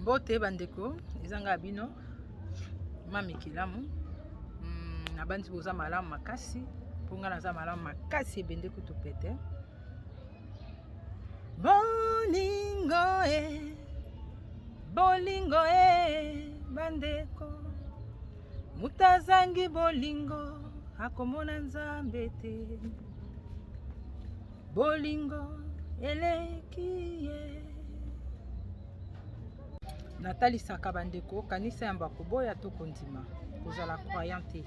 mbote bandeko eza ngai ya bino mami kelamu hmm, nabanzi boza malamu makasi mpo ngai naza malamu makasi ebende kutu pete bolingo e bolingo e bandeko moto azangi bolingo akomona nzambe te bolingo eleki ye natalisaka bandeko kanisa yambo ya koboya to kondima kozala croyant te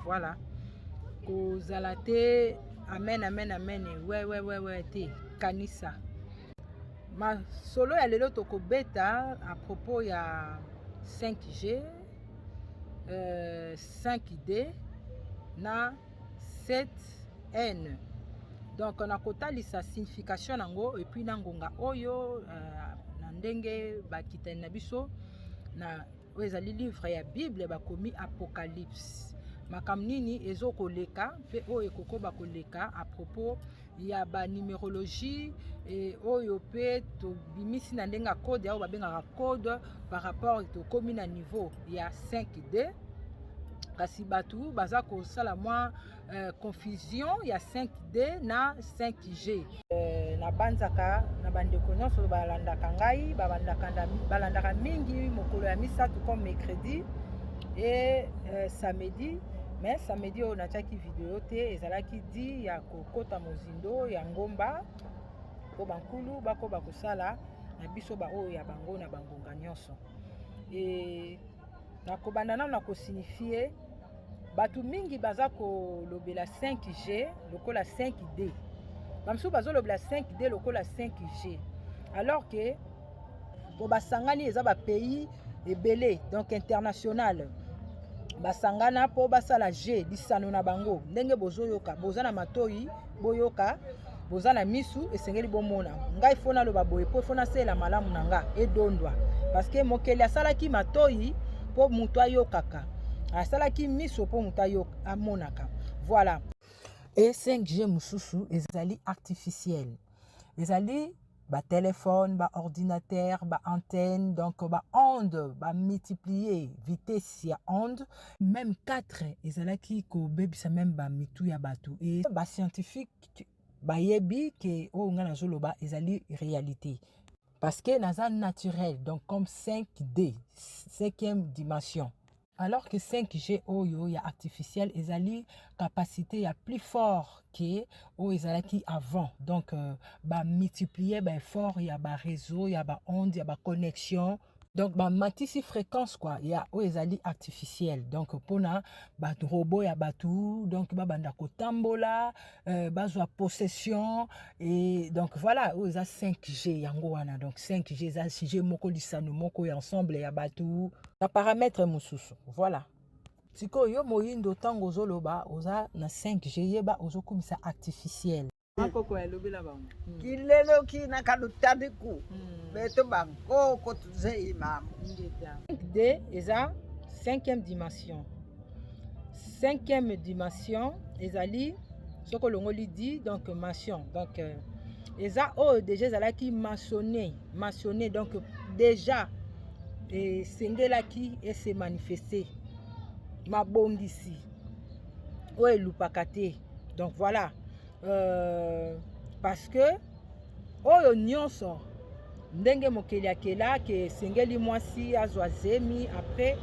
voilà kozala te amen amen amen wewewewe te kanisa masolo ya lelo tokobeta à propos ya 5g euh, 5d na cette haine donc nakotalisa signification yango epuis na ngonga oyo uh, na ndenge bakitani na biso na oyo ezali livre ya bible bakomi apocalypse makambo nini ezokoleka mpe oyo ekokoba koleka à propos ya ba numerologie e, oyo mpe tobimisi na ndenge ya code yango babengaka code par rapport tokomi na niveau ya 5d kasi bato baza kosala mwa euh, confusion ya 5d na 5g euh, nabanzaka na bandeko nyonso balandaka ngai balandaka mingi mokolo ya misato comme mercredi e euh, samedi mais samedi oyo natiaki video te ezalaki di ya kokota mozindo ya ngomba mpo bankulu bakoba kosala na biso baoyo ya bango na bangonga nyonso e nakobanda nano na kosignifie bato mingi baza kolobela 5g lokola 5d bamosusu bazolobela 5d lokola 5g alors que po basangani eza ba pays ebele donc international basangana mpo basala je lisano na bango ndenge bozoyoka boza na matoi boyoka boza na misu esengeli bomona ngai fo naloba boye mpo fo nasalela malamu na nga edondwa parceke mokeli asalaki matoi mpo moto ayokaka asalaki miso mpo moto amonaka voilà e 5g mosusu ezali artificiel ezali ba telephone ba ordinateur ba antenne donc ba onde ba multiplier vitesse ya onde même 4 ezalaki kobebisa même ba mitu ya bato e ba scientifique bayebi ke oyo ngai nazoloba ezali réalité parce que naza naturel donc comme 5d cinquième dimension Alors que 5G oyo ya artificiel ezali capacité ya plus fort que oyo ezalaki avant. Donc euh, ba multiplier ba effort ya ba réseau, ya ba onde, ya ba connexion donc bamatisi fréquence kua ya oyo ezali artificielle donc mpona barobo ya bato donc babanda kotambola euh, bazwa possession et donc voilà oyo eza 5g yango wana donc 5g eza g moko lisano moko ya ensemble ya bato na parametre mosusu voilà sikoyo yo moyindo ntango ozoloba oza na 5g yeba ozokumisa artificiel bakoko yalobela bango hmm. kileloki na kalutadiku hmm. beto bankoko tuzeyi mamo de eza cinquième dimension cinquième dimension ezali soki olongoli di donc mention donc euh, eza oyo deja ezalaki mentionne mentionne donc deja esengelaki ese manifeste mabongisi oyo elupaka te donc voilà euh, parce que Oyo nionso ndenge mokeli akela ke esengeli mwasi azwa zemi après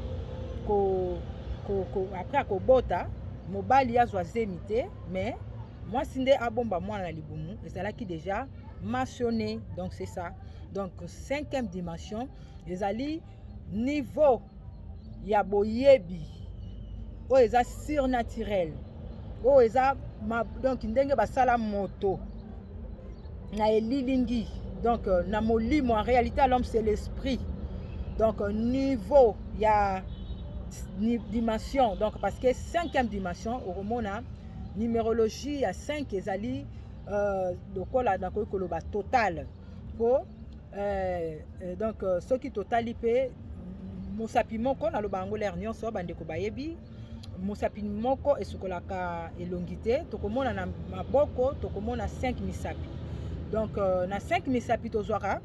ko, ko, ko après akobota mobali azwa zemi te mais mwasi nde abomba mwana na libumu ezalaki deja mentionné donc c'est ça donc cinquième dimension ezali niveau ya boyebi oyo eza surnaturel oyo eza ma, donc ndenge basala moto na elilingi donc euh, na molimo en réalité à l'homme c'est l'esprit donc euh, niveau ya dimension donc parce que cinquième dimension okomona numérologie ya 5 ezali euh, lokola nakoki koloba totale po eh, eh, donc euh, soki totali mpe mosapi moko naloba yango lere nyonso bandeko bayebi mosapi moko esukolaka elongi te tokomona na maboko tokomona 5 misapi donc euh, na 5 misapi tozwaka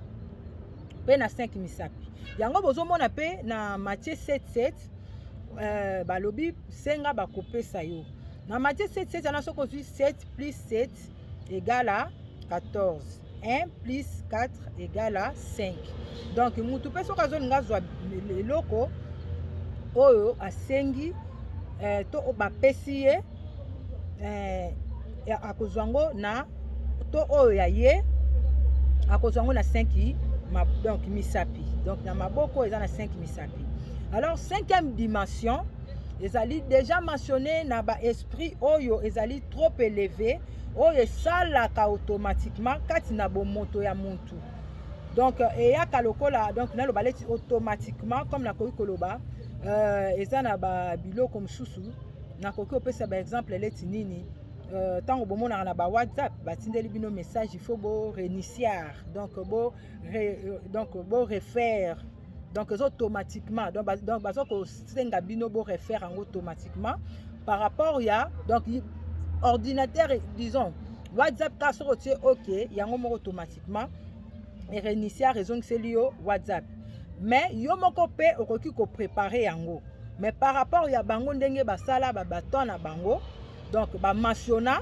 mpe na 5 misapi yango bozomona mpe na matie 77 euh, balobi senga bakopesa yo na matie 77 wana soki ozwi 7 plus 7 egala 14 1 plus 4 egala 5 donc mutu mpe soki azolinga azwa eloko oyo asengi eh, to bapesi ye eh, akozwa yango na to oyo ya ye akozwa yango na 5 ma, donc misapi donc na maboko eza na 5 misapi alors cinquième dimension ezali deja mentionné na ba esprit oyo ezali trop élevé oyo esalaka automatiquement kati na bomoto ya muntu donc euh, eyaka lokola donc naloba leti automatiquement comme nakoki koloba euh, eza na babiloko mosusu nakoki kopesa baexemple leti nini ntango euh, bomonaka na ba whatsapp batindeli bino message il faut bo reniciar donc bo re, euh, donc bo refaire donc eza automatiquement donc baza kosenga bino bo refaire yango automatiquement par rapport ya donc ordinateur disons whatsapp ka soki otie ok yango moko automatiquement erenisia ezongiseli yo whatsapp mais yo moko mpe okoki koprepare yango mais par rapport ya bango ndenge basala babaton na bango donc ba masiona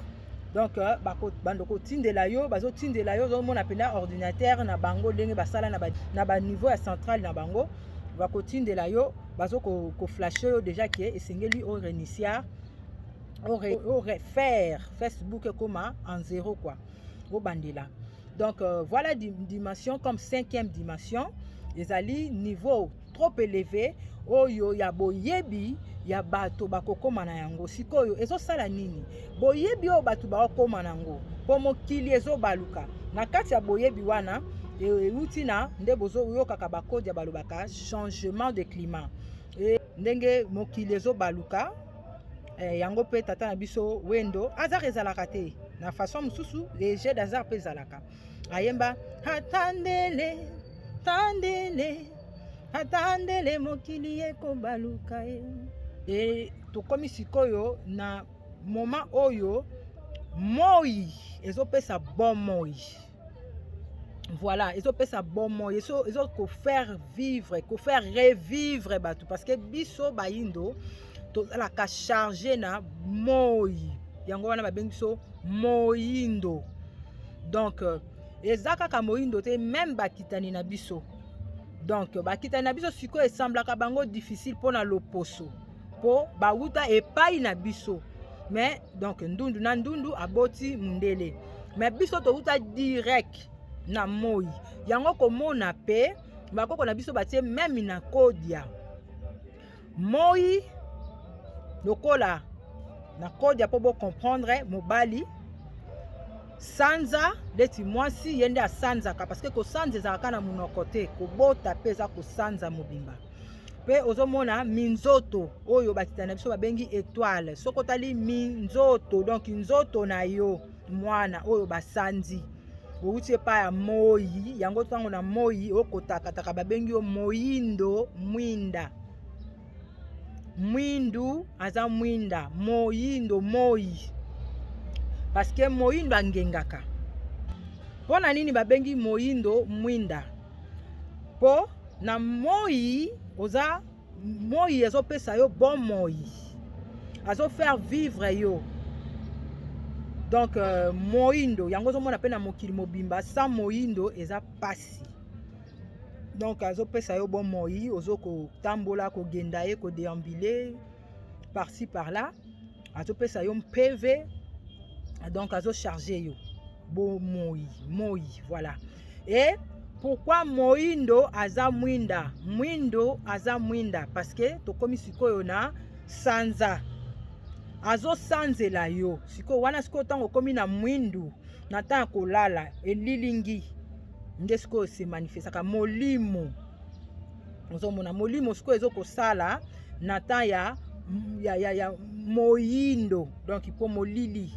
donc euh, bando kotindela yo bazotindela yo ozomona mpena ordinateur na bango ndenge basala na baniveau ya centrale na bango bakotindela yo bazo koflashe yo déjà ke esengeli o renisia o refaire facebook ekoma en zero quoi obandela donc euh, voilà dimension comme cinquième dimension ezali niveau trop eleve oyo ya boyebi ya bato bakokoma na yango sikoyo ezosala nini boyebi oyo bato bakokoma na yango mpo mokili ezobaluka na kati ya boyebi wana euti na nde bozoyokaka bakodia balobaka changement de climat e, ndenge mokili ezobaluka e, yango mpe tata na biso wendo azar ezalaka te na façon mosusu le jeu d'azar mpe ezalaka ayemba atandele tandele atandele mokili ekobaluka ye e tokomi sikoyo na moma oyo moi ezopesa bomoi voilà ezopesa bomoi ezo kofaire vivre kofaire revivre bato parce que biso bayindo tozalaka charge na moi yango wana babengi biso moyindo donc euh, eza kaka moyindo te meme bakitani na biso donc bakitani na biso sikoyo esemblaka bango difficile mpo na loposo mpo bawuta epai na biso mais donc ndundu na ndundu aboti mundele mais biso towuta direct na moi yango komona mpe bakoko na biso batie meme na kodia Moi lokola na kodia mpo bocomprendre mobali sanza ndeti mwasi ye nde asanzaka parceke kosanza ezalaka na monoko te kobota mpe eza kosanza mobimba mpe ozomona minzoto oyo batita na biso babengi etoile soki otali minzoto donk nzoto na yo mwana oyo basanzi bowuti epai ya moi yango ntango na moi okotakataka babengi yo moindo mwinda mwindu aza mwinda moindo moi paske moindo angengaka mpo na nini babengi moindo mwinda mpo na moi oza Moi azopesa yo bon moi. Azo faire vivre yo. Donc euh, moindo yango ozomona mpe na mokili mobimba sans moindo eza pasi. Donc azopesa yo bon moi, ozo kotambola kogenda ye kodeambule par ci par là. Azopesa yo mpeve donc azo charge yo. bomoi moi voilà e pourkui moindo aza mwinda mwindo aza mwinda parce que tokomi sikoyo na sanza azosanzela yo sikoyo wana sikoyo ntango okomi na mwindu na ntango ya kolala elilingi nde sikoyo se manifestaka molimo ozomona molimo sikoyo ezokosala na ntango ya, ya, ya, ya moyindo donc mpo molili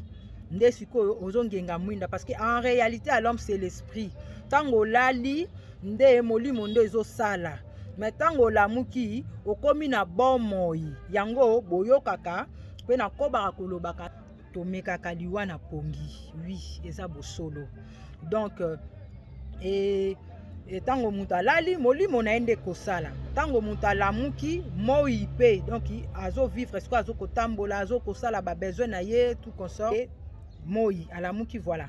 nde sikoyo ozongenga mwinda parce que en réalité à l'homme c'est l'esprit ntango olali nde molimo nde ezosala me ntango olamuki okomi na bomoi yango boyokaka mpe nakobaka kolobaka tomekaka liwa na pongi wi eza bosolo donc euh, e, e, ntango moto alali molimo na ye nde kosala ntango moto alamuki moi mpe donc azovivre sikoyo azokotambola azokosala babesoin na ye tout consort moi alamuki voilà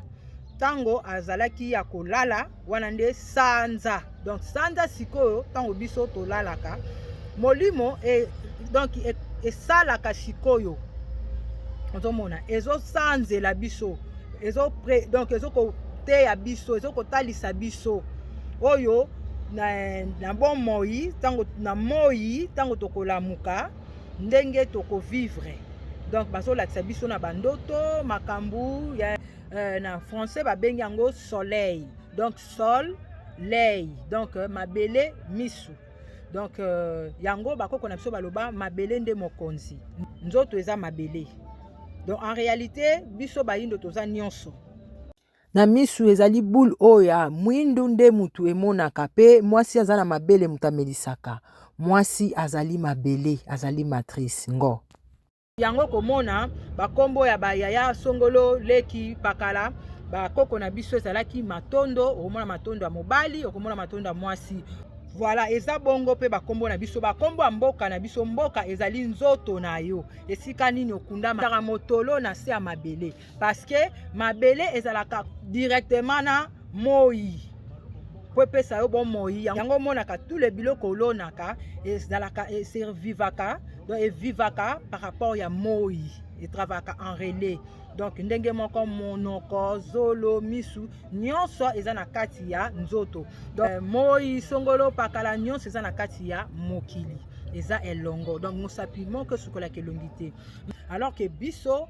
ntango azalaki ya kolala wana nde sanza donc sanza sikoyo ntango biso tolalaka molimo e, donc e, esalaka sikoyo ozomona ezosanzela biso ezo pre, donc ezokoteya biso ezokotalisa biso oyo na, na bomoi ntango na moi ntango tokolamuka ndenge tokovivre donc bazolakisa biso na bandoto makambo ya euh, na français babengi yango soleil donc sol lei donc euh, mabele misu donc euh, yango bakoko na biso baloba mabele nde mokonzi nzoto eza mabele donc en réalité biso bayindo toza nyonso na misu ezali bule oyo ya mwindu nde motu emonaka mpe mwasi aza na mabele moto amelisaka mwasi azali mabele azali matrice ngo yango komona bakombo ya bayaya songolo leki pakala bakoko na biso ezalaki matondo okomona matondo ya mobali okomona matondo ya mwasi voilà eza bongo mpe bakombo na biso bakombo ya mboka na biso mboka ezali nzoto na yo esika nini okundama motolo na se ya mabele parce que mabele ezalaka directement na moi mpo epesa yo bomoi yango omonaka tout le biloko olonaka ezalaka eservivaka donc evivaka par rapport ya moi etravaka en relais donc ndenge moko monoko zolo misu nyonso eza na kati ya nzoto donc euh, moi songolo pakala nyonso eza na kati ya mokili eza elongo donc mosapi moko esukolaka elongi te alors ke biso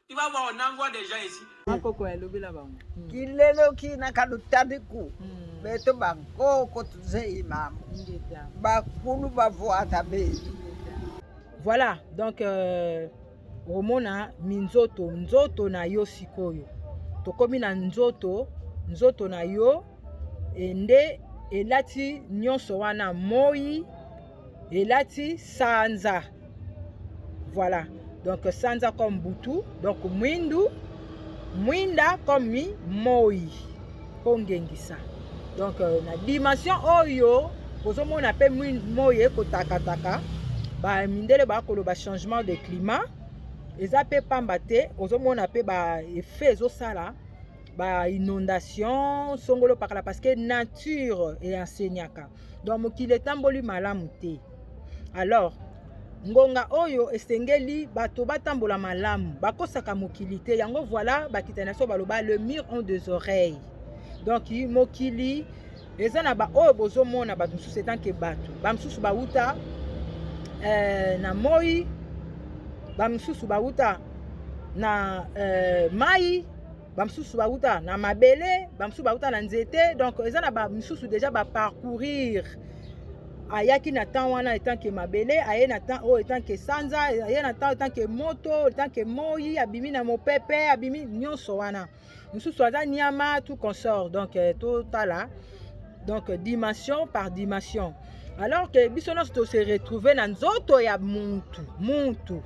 Tu vas voir, on envoie des gens ici. Makoko ya lobela bango. Hmm. Kilelo kina kalutadiku. Hmm. Beto bankoko tuze imam. Bakulu bavuata betu. Voilà, donc euh, omona minzoto nzoto na yo sikoyo tokomi na nzoto nzoto na yo e nde elati nyonso wana moi elati sanza voilà donc sanza comme butu donc mwindu mwinda comme moi mpo ngengisa donc euh, na dimension oyo ozomona mpe moi ekotakataka bamindele bakoloba changement de climat eza mpe pamba te ozomona mpe ba effet ezosala ba inondation songolo pakala parce que nature eenseignaka donc mokili etamboli malamu te alors ngonga oyo esengeli bato batambola malamu bakosaka mokili te yango voilà bakitani na biso baloba le mur ont des oreilles donc mokili eza na baoyo bozomona bato mosusu etanke bato bamosusu bauta eh, na moi bamosusu bauta na eh, mai bamosusu bauta na mabele bamosusu bauta na nzete donc eza na bamosusu déjà baparcourir ayaki na temps wana etant ke mabele aye na temps oyo etant ke sanza aye na temps etant ke moto etant ke moi abimi na mopepe abimi nyonso wana mosusu aza niama tout consort donc eh, totala donc dimension par dimension alors que biso nyonso tose retrouve na nzoto ya muntu muntu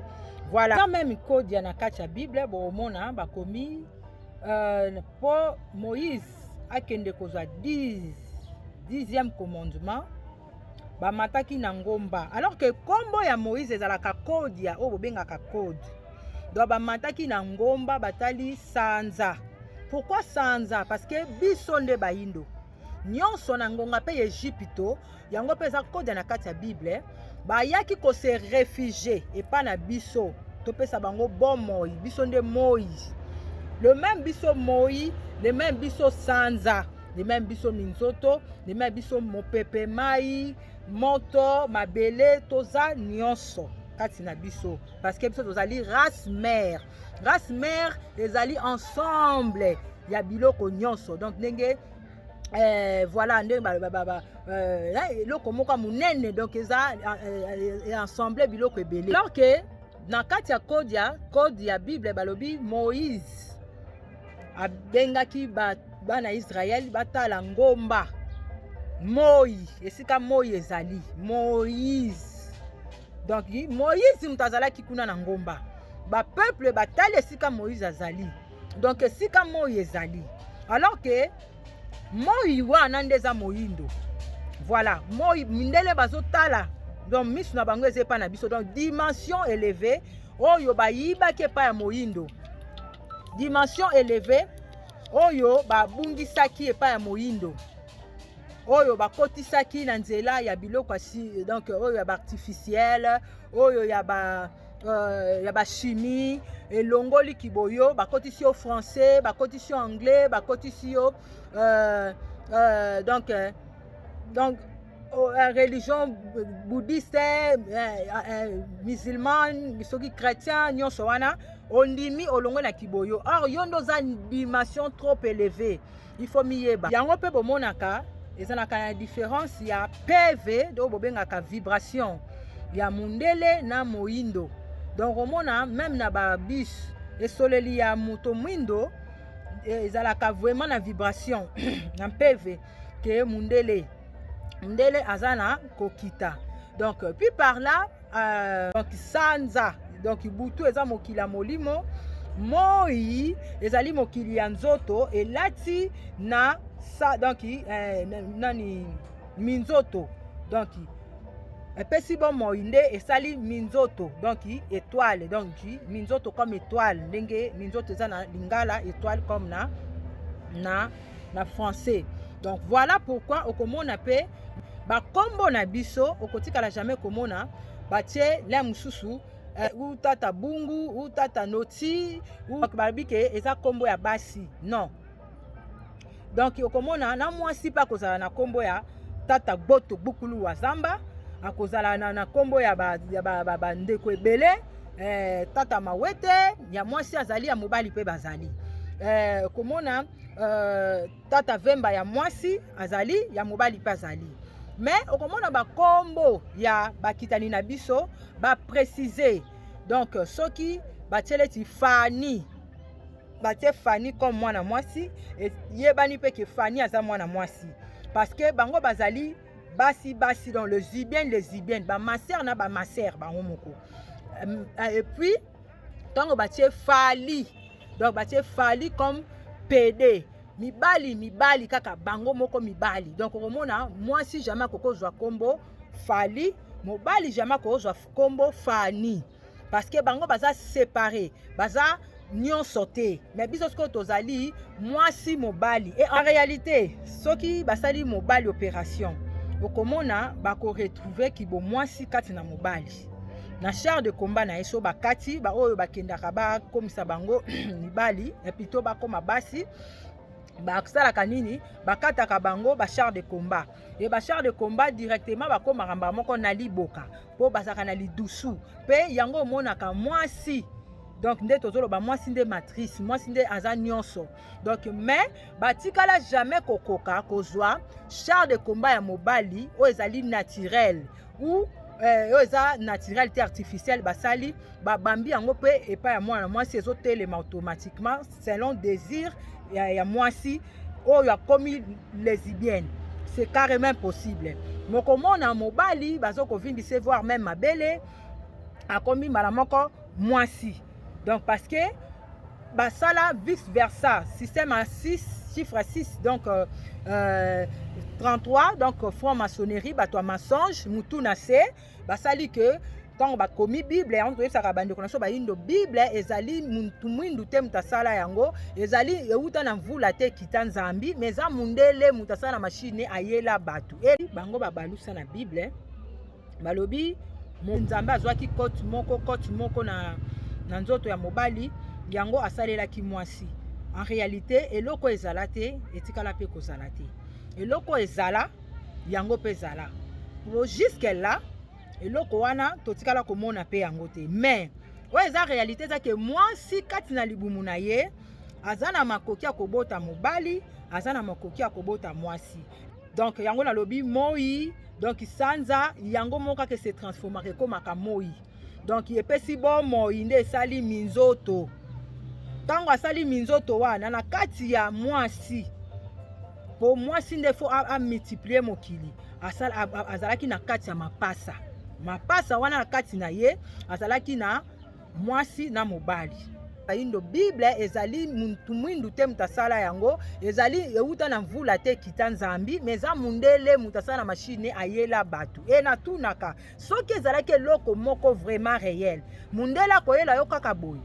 voilà quand même kodia na kati ya bible bokomona bakomi euh, mpo moïse akende kozwa 10 dixième commandement bamataki na ngomba alors que kombo ya moïse ezalaka code ya oyo bobengaka code donc bamataki na ngomba batali sanza pourquoi sanza parce que biso nde bayindo nyonso na ngonga mpe ya egypito yango mpe eza koda na kati ya bible bayaki kose refugie epai na biso topesa bango bomoi biso nde moi le meme biso moi le meme biso sanza ndima ya biso minzoto ndima ya biso mopepe mai moto mabele toza nyonso kati na biso parce que biso tozali race mère race mère ezali ensemble ya biloko nyonso donc ndenge Eh, voilà ndenge balobababa eh, eh, eloko moko ya monene donc eza ensemble biloko ebele alors ke na kati ya code ya code ya bible balobi moïse abengaki bana Israël batala ngomba moi esika moi ezali moïse donc moïse moto azalaki kuna na ngomba bapeuple batali esika moïse azali donc esika moi ezali alors ke moi wana nde eza moyindo voilà moi mindele bazotala donc miso na bango eza epai na biso donc dimension eleve oyo bayibaki epai ya moyindo dimension eleve oyo babungisaki epai ya moyindo oyo bakotisaki na nzela ya biloko donc oyo ya baartificiele oyo ya ba euh, ya bachimie elongoli kiboyo bakotisi yo français bakotisi yo anglais bakotisi yo euh, euh, donc euh, donc Oh, eh, religion bouddhiste eh, eh, musulman soki chrétien nyonso wana ondimi olongwe na kiboyo or yo nde oza dimension trop élevée il faut miyeba yango mpe bomonaka ezalaka na différence ya pv donc bobengaka vibration ya mundele na moindo donc omona meme na babus esoleli ya moto mwindo ezalaka vraiment na vibration na mpeve ke mundele ndele aza na kokita donc puis par là euh, donc sanza donc butu eza mokili ya molimo moi ezali mokili ya nzoto elati na sa donc eh, nani minzoto donc epesi bomoi nde esali minzoto donc étoile donc minzoto comme étoile ndenge minzoto eza na lingala étoile comme na na na français donc voilà pourquoi okomona mpe bakombo na biso okotikala jamais komona batie le mosusu eh, ou tata bungu ou tata noti balobi ke eza kombo ya basi non donc okomona na mwasi mpe akozala na kombo ya tata gboto gbukulu wa zamba akozala na, na kombo ya bandeko ba, ba, ba, ba ebele eh, tata mawete ya mwasi azali ya mobali mpe bazali eh, komona eh, tata vemba ya mwasi azali ya mobali mpe azali me okomona bakombo ya bakitani na biso baprecise donc soki batieleti fani batie Fanny comme mwana mwasi yebani mpe ke Fanny aza mwana mwasi parce que bango bazali basi basi donc les ubiennes les ubiennes bamasere na bamasere bango moko euh, et puis ntango batie fali donc batie fali comme pede mibali mibali kaka bango moko mibali donc okomona mwasi jamai akoki kozwa nkombo fali mobali jamai akoki kozwa nkombo fani parce que bango baza séparé baza nyonso te mais biso sikoyo tozali mwasi mobali et en réalité soki basali mobali opération okomona bakoretrouve kibomwasi kati na mobali na char de combat na ye so bakati baoyo bakendaka bakomisa bango mibali epito bakoma basi basalaka nini bakataka bango bachar de combat e bachar de combat directement bakomaka mbala moko na liboka mpo bazalaka na lidusu mpe yango omonaka mwasi donc nde tozoloba mwasi nde matrice mwasi nde aza nyonso donc mais batikala jamais kokoka kozwa char de combat ya mobali oyo ezali naturel ou euh, oyo eza naturel te artificiel basali babambi yango mpe epai ya mwana mwasi ezotelema automatiquement selon désir ya, ya mwasi oyo akomi lesibienne c'est carrément impossible mokomona mobali bazo kovimbise voir même mabele akomi mbala moko mwasi donc parce que basala vice versa système à 6 chiffre à 6 donc euh, euh, 33 donc franc maçonnerie bato ya mensonge mutu na se basali ke ntango bakomi bible yango toyebisaka bandeko na biso bayindo bible ezali mutu mwindu te moto asala yango ezali euta na mvula te kita nzambi ma eza mundele moto asala na mashine ayela bato e bango babalusa na bible balobi nzambe azwaki kote moko kote moko na, na nzoto ya mobali yango asalelaki mwasi en réalité eloko ezala te etikala mpe kozala te eloko ezala yango mpe ezala po jusque là eloko wana totikala komona mpe yango te mais oyo eza réalité eza ke mwasi kati na libumu na ye aza na makoki ya kobota mobali aza na makoki ya kobota mwasi donc yango nalobi moi donc sanza yango moko kaka se transformaka ekomaka moi donc epesi bomoi nde esali minzoto ntango asali minzoto wana na kati ya mwasi mpo mwasi nde fo amultiplie mokili azalaki na kati ya mapasa mapasa wana na kati na ye azalaki na mwasi na mobali ayindo bible ezali muntu mwindu te moto asala yango ezali euta na mvula te kita nzambi me eza mundele moto asala na mashine ayela bato e natunaka soki ezalaki eloko moko vraiment réel mundele akoyela yo kaka boye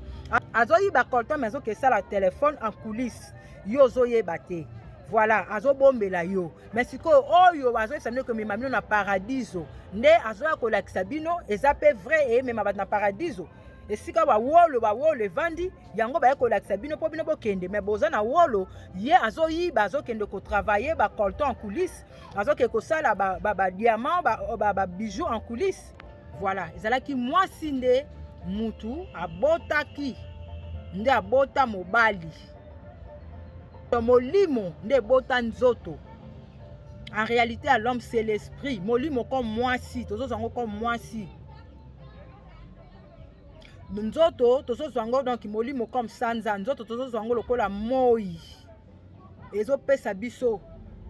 azoyiba colton mais azokesala telefone en coulisse yo ozoyeba te voilà azobombela yo me sikoyo oyo azoyebisa bino komema bino na paradiso nde azoya kolakisa bino eza mpe vrai eyemema bato na paradiso esika bawolo bawolo evandi yango baye kolakisa bino mpo bino bokende me boza na wolo ye azoyiba azokende kotravaille bacolton en coulisse azoke kosala badiamant ba, ba, ba, ba bijoux en coulisse voilà ezalaki mwasi nde mutu abotaki nde abota mobali molimo nde ebota nzoto en réalité à l'homme c'est l'esprit molimo comme mwasi tozozwa yango comme mwasi nzoto tozozwa yango donc molimo comme sanza nzoto tozozwa yango lokola moi ezopesa biso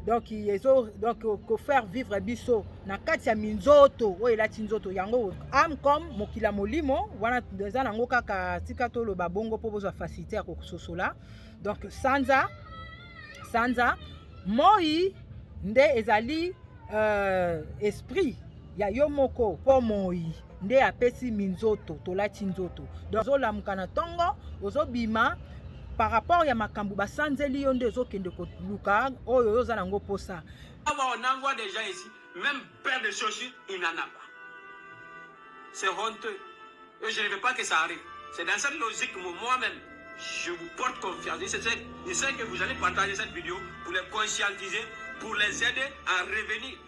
donc ezo donc kofaire vivre biso na kati ya minzoto oyo elati nzoto yango ame comme mokila molimo wana eza nango kaka tika toloba bongo mpo bozwa facilité ya kososola donc sanza sanza moi nde ezali euh, esprit ya yo moko mpo moi nde apesi minzoto tolati nzoto donc ozolamuka na ntongo ozobima par rapport ya makambo basanzeli yo nde ozokende koluka oyo oyo oza nango mposa awa onangwa deja esi même père de chochi inanaba c'est honteux et je ne veux pas que ça arrive c'est dans cette logique moi-même je vous porte confiance je sais, je sais que vous allez partager cette vidéo pour les conscientiser pour les aider à revenir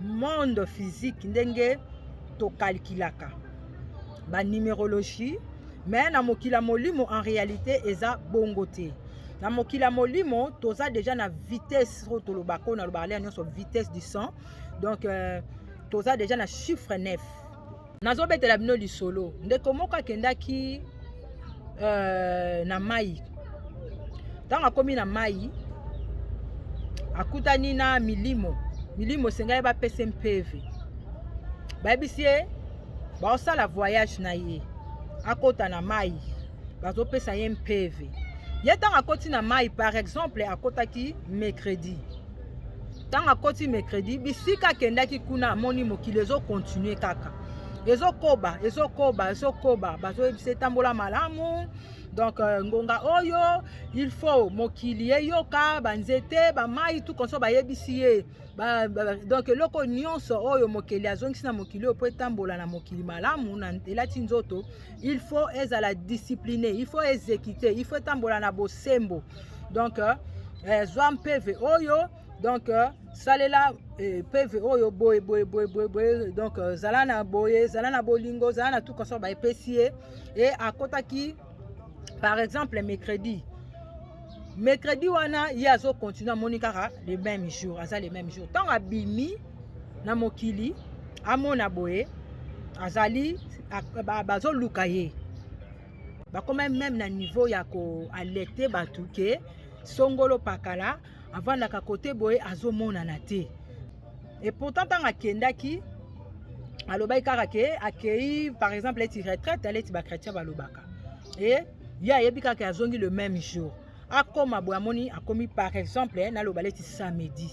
monde physique ndenge tokalkilaka banumérologie me na mokili ya molimo en réalité eza bongo te na mokili ya molimo toza deja na vitesse oyo tolobaka oyo nalobaka lea nyonso vitesse du sang donc euh, toza deja na chiffre 9 nazobetela bino lisolo ndeko moko akendaki euh, na mai ntango akomi na mai akutani na milimo milimo esengaki bapesa mpeve bayebisi ye baosala voyage na ye akota na mai bazopesa ye mpeve ye ntango akoti na mai par exemple akotaki mercredi ntango akoti mercredi bisika akendaki kuna amoni mokili ezokontinue kaka ezokoba ezokoba ezokoba bazoyebisa etambola malamu donc euh, ngonga oyo il faut mokili eyoka banzete bamai tout konso bayebisi ye ba, ba, donc eloko nyonso oyo mokeli azongisi na mokili oyo mpo etambola na mokili malamu na elati nzoto il faut ezala discipline il faut ezekite il faut etambola na bosembo donc euh, eh, zwa mpeve oyo donc euh, salela eh, peve oyo boye boye boye boye boye donc euh, zala na boye zala na bolingo zala na tout kaso baepesi ye e akotaki par exemple mercredi mercredi wana ye azocontinue amoni kaka le même jour aza le même jour ntango abimi na mokili amona boye azali bazoluka ye bakoma meme na niveau ya koalerte bato ke songolo pakala avandaka kote boye azomonana te e pourtant ntango akendaki alobaki kaka ke akei par exemple eti retraite aleti bachrétien balobaka e ye ayebi kaka azongi le même jour akoma boye amoni akomi par exemple eh, naloba leti samedi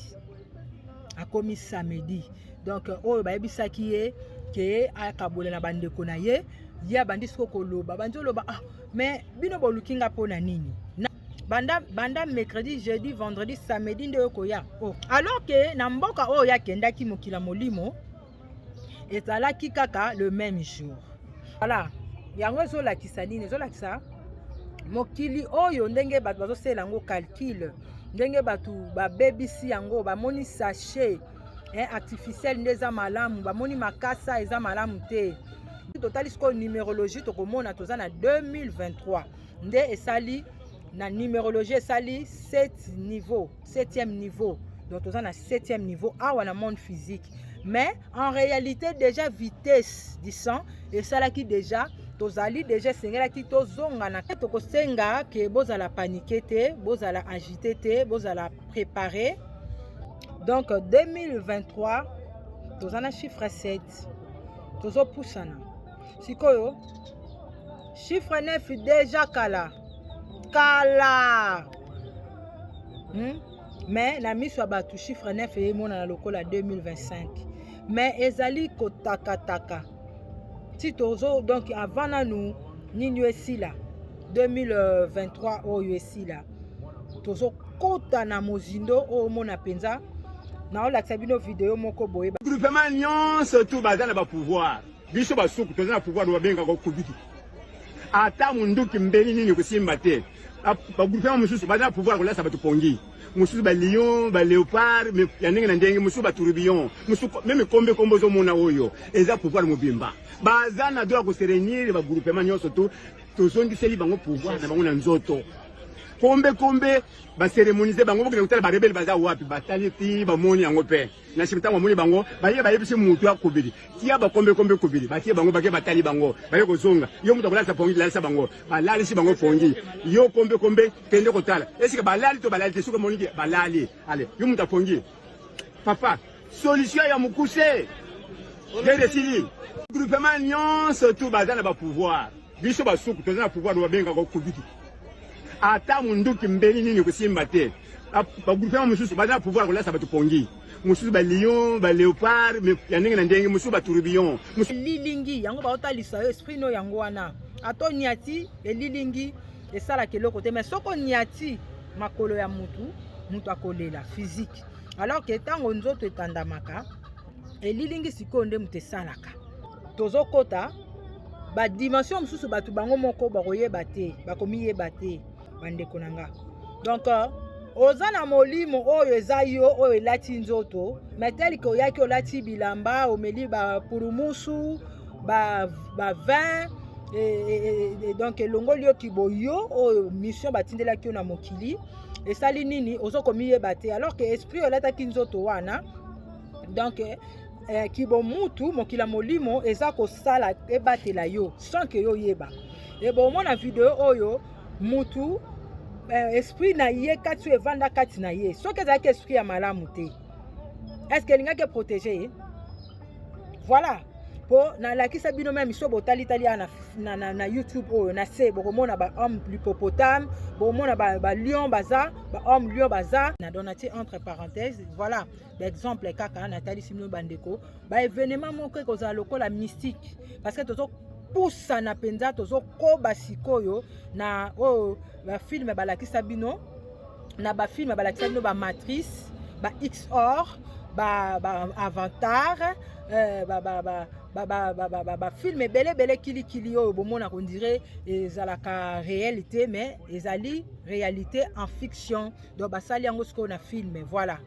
akomi samedi donc euh, oyo bayebisaki ye ke akabola na bandeko na ye ye abandi siko koloba abandi oloba ah mais bino boluki nga mpo na nini na, banda, banda mercredi jeudi vendredi samedi nde oyo koya oh. alors ke na mboka oyo akendaki mokila molimo ezalaki kaka le même jour voilà yango ezolakisa nini ezolakisa mokili oyo ndenge bato bazosala yango calcule ndenge bato babebisi yango bamoni sachet eh, artificiel nde eza malamu bamoni makasa eza malamu te totali sikoyo numérologie tokomona toza na 2023 nde esali na numérologie esali 7 niveau Septième niveau. Donc toza na septième niveau awa na monde physique. Mais en réalité déjà vitesse du sang esalaki déjà tozali deja esengelaki tozonga na tokosenga ke bozala panike te bozala agite te bozala prépare donc 2023 toza na chiffre 7 tozopusana sikoyo Chiffre 9 deja kala kala hmm? mais na miso ya bato chiffre 9 emonana lokola 2025 mais ezali kotakataka ti tozo donc avant nanu nini oyo esila 2023 oyo esila tozokota na mozindo oyo omona mpenza naolakisa bino video moko boye groupement nyonso tu baza na bapouvoir biso basuku toza na pouvoir babengaka okobiki ata munduki mbeli nini kosimba te bagouvernement mosusu baza na pouvoir kolasa bato pongi mosusu balion baleopard ya ndenge na ndenge mosusu batourubion mosusu meme kombe kombo ozomona oyo eza pouvoir mobimba baza na droit ya koserenir bagroupement nyonso to tozongiseli bango pouvoir na bango na nzoto kombe kombe baseremonise bango bokende kotala barebele baza wapi batali ti bamoni yango mpe Na nsima ntango amoni bango baye bayebisi moto ya kobeli tia bakombe kombe kobeli batie bango bake batali bango baye kozonga yo moto akolalisa pongi lalisa bango balalisi bango pongi yo kombe kombe kende kotala esika balali to balali te soki omoniki balali ale yo moto apongi papa solution ya mokuse gede esili groupement nyonso tu baza na bapouvoir biso basuku toza na pouvoir babengaka okobiki ata munduki mbeli nini kosimba te bagouvernement mosusu baza na pouvoir kolasa bato pongi mosusu balion baleopard ya ndenge na ndenge mosusu batourbillon lilingi yango baotalisa yo esprit no yango wana ata oniati elilingi esalaka eloko te mais soki oniati makolo ya motu motu akolela physique alors ke ntango nzoto etandamaka elilingi sikoyo nde moto esalaka tozokota badimension mosusu bato bango moko bakoyeba te bakomiyeba te bandeko na nga donc euh, oza na molimo oyo eza yo oyo elati nzoto metelike oyaki olati bilamba omeli bapurumusu bavin ba e, e, e, donc elongoli yo kiboyo oyo mission batindelaki yo na mokili esali nini ozokomiyeba te alors que esprit olataki nzoto wana donc eh, kibomutu mokili ya molimo eza kosala ebatela yo sans ke yo oyeba ebomona video oyo mutu eh, esprit na ye kati oyo evanda kati na ye soki ezalaki esprit ya malamu te eske elingaki eprotege ye voilà mpo nalakisa bino meme miso botalitali ya na, na, na, na youtube oyo na se bokomona bahomme lipopotame bokomona balion ba baza bahomme lion baza na donati entre parenthèse voilà exemple kaka natalisi bino bandeko baevenema moko ekozala lokola mystique parce que tozo pusana mpenza tozokoba sikoyo na oyo oh, bafilme balakisa bino na bafilme balakisa bino bamatrice ba xor ba, ba avatar euh, ba, ba, ba, bafilme ebele ebele kilikili oyo bomona kondire ezalaka réel te mais ezali réalité en fiction donc basali yango sikoyo na filme voilà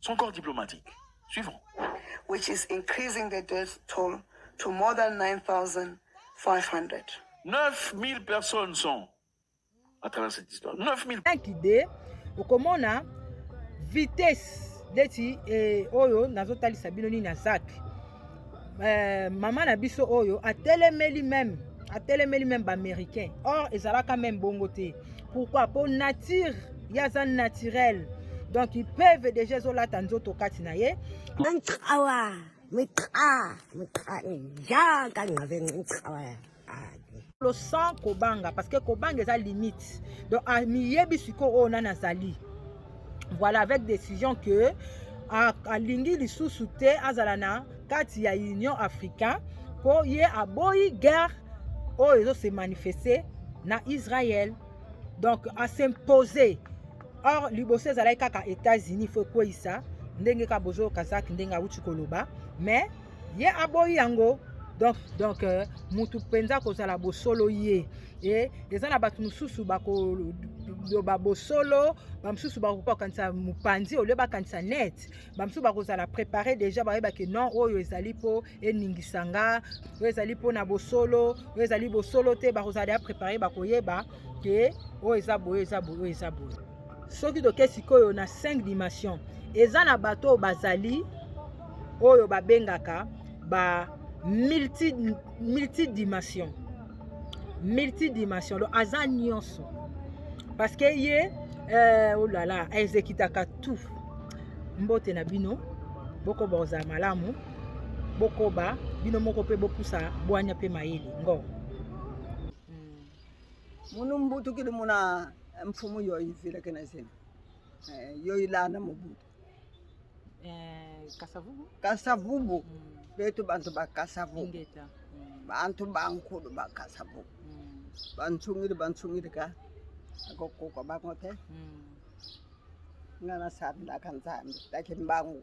son corps diplomatique suivant which is increasing the death toll to more than 9500 9000 personnes sont à travers cette histoire 9000 idée okomona vitesse ndeti eh, oyo nazotalisa bino nini na zaki eh, mama na biso oyo atelemeli meme atelemeli meme baaméricain or ezalaka meme bongo te pourquoi mpo nature ye aza naturel donc ipeve deja ezolata nzoto kati na ye awa mitra mitra jaka ngabe mitra sans kobanga parce que kobanga eza limite donc amiyebi ah, sikoyo oyo oh, nani azali voilà avec décision que alingi lisusu te azala na kati ya union africain mpo ye aboyi guerre oyo oh, ezose manifeste na israel donc asimpose or liboso ezalaki kaka états-unis fo ekweyisa ndenge kaka bozoyoka zaki ndenge awuti koloba mais ye aboyi yango donc donc euh, mutu mpenza kozala bosolo ye e eza na bato mosusu bakoloba bosolo bamosusu bakoki kokanisa mopanzi olio bakanisa net bamosusu bakozala prépare déjà bayebaki non oyo ezali mpo eningisa nga oyo ezali mpo na bosolo oyo ezali bosolo te bakozala deja prépare bakoyeba ke oyo eza boye eza boye oyo eza boye soki toke sikoyo na 5 dimension eza na bato oyo bazali oyo babengaka ba multi, multidimension multidimension donc aza nyonso parce que ye eh, olala oh ezekitaka tout mbote na bino bokoba kozala malamu bokoba bino moko mpe bopusa bwanya mpe mayele ngo munu mbutu kili muna eh, mfumu yo izile kena zina eh, yo ilana mubutu eh, kasavubu kasavubu mm. betu bantu ba kasavubu Ingeta. Mm. bantu bankulu ba kasavubu mm. bansungili bansungili ka akokuka bango te mm. ngana sabila ka nzambi lakini bangu